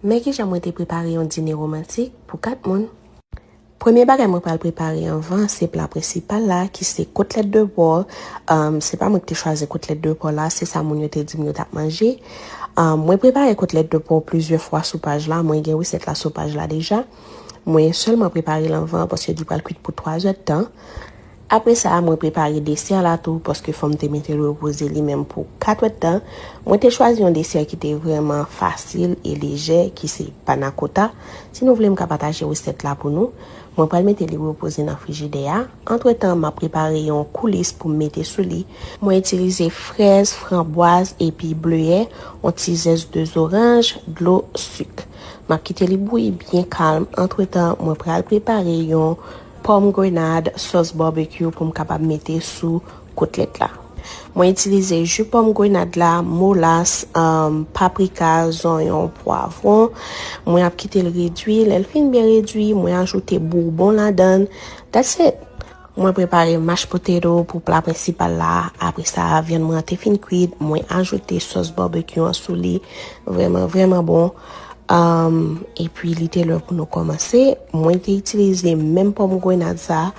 Men ki jan mwen te prepare yon dine romantik pou 4 moun. Premye bagay mwen pral prepare anvan se pla prensipal la ki se kotlèt de pò. Um, se pa mwen ki te chwazi kotlèt de pò la, se sa moun yo te di m yo t ap manje. Um, mwen prepare kotlèt de pò plizyè fwa sou paj la, mwen gen resèt la sou paj la deja. Mwen sèlman prepare l anvan paske li pral kwit pou 3 zèdtan. Apre sa, mwen prepare desè la tou paske fò m te mete l repoze li menm pou 4 èdtan. Mwen te chwazi yon desè ki te vrèman fasil e lejè ki se panakota. Si nou vle m ka pataje resèt la pou nou. Mwen pral mete li repoze nan frijidè a. Antretan, m ap prepare yon koulis pou m mete sou li. Mwen itilize frèz, franbwaz epi bleyè, yon ti zès 2 zoranj, dlo, sik. M ap kite li bouyi byen kalm. Antretan, mwen pral prepare yon. Pòm grenad, sòs barbecue pou m kapab mete sou kotlèt la. Mwen itilize ju pòm grenad la, molas, paprika, zonyon, pwavron. Mwen ap kite l redwi. Lè l fin byen redwi, mwen ajoute bourbon ladan. That's it! Mwen prepare mashed potato pou pla prensipal la. Apre sa, vyann mwen an te fin kwit, mwen ajoute sòs barbecue an sou li. Vrèman, vrèman bon! E pi li te lè pou nou kòmanse. Mwen te itilize menm pòm grenad sa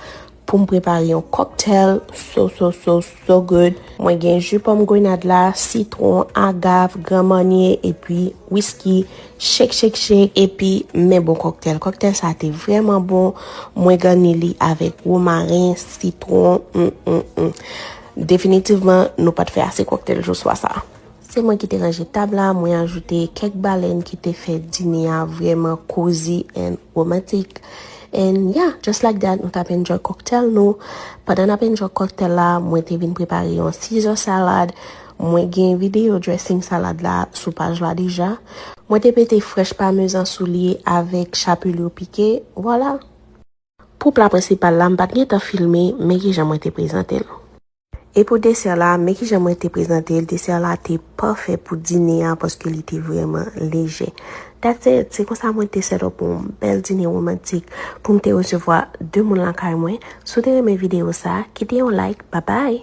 pou m prepare yon cocktail so so so so good. Mwen gen ju pòm grenad la, sitron, agave, gran manye e pi whisky. Shake shake shake e pi men bon cocktail. Cocktail sa te vreman bon. Mwen gani li avèk romarin, sitron. Definitivman nou pat fè ase cocktail jou swa sa. Se mwen ki te ranje tab la, mwen ajoute kèk balèn ki te fè dine a vrèman cozy and romantic. And yeah, just like that, nou tap enjoy cocktail nou. Pandan nap enjoy cocktail la, mwen te vin prepare yon Caesar salad. Mwen gen video dressing salad la sou paj la deja. Mwen te pete fresh parmesan sou li avèk chapelure piqué. Voilà! Pou pla prensipal la, m pat gen tan filme, men kijan mwen te prezante l. E pou desè la, men ki jan mwen te prezante l, desè la te pafè pou dine a paske li te vrèman lejè. That's it! Se konsa mwen te set up yon bèl dine womantik pou m te resevwa 2 moun lakay mwen. Si w te renmen videyo sa, kite yon like. Babay!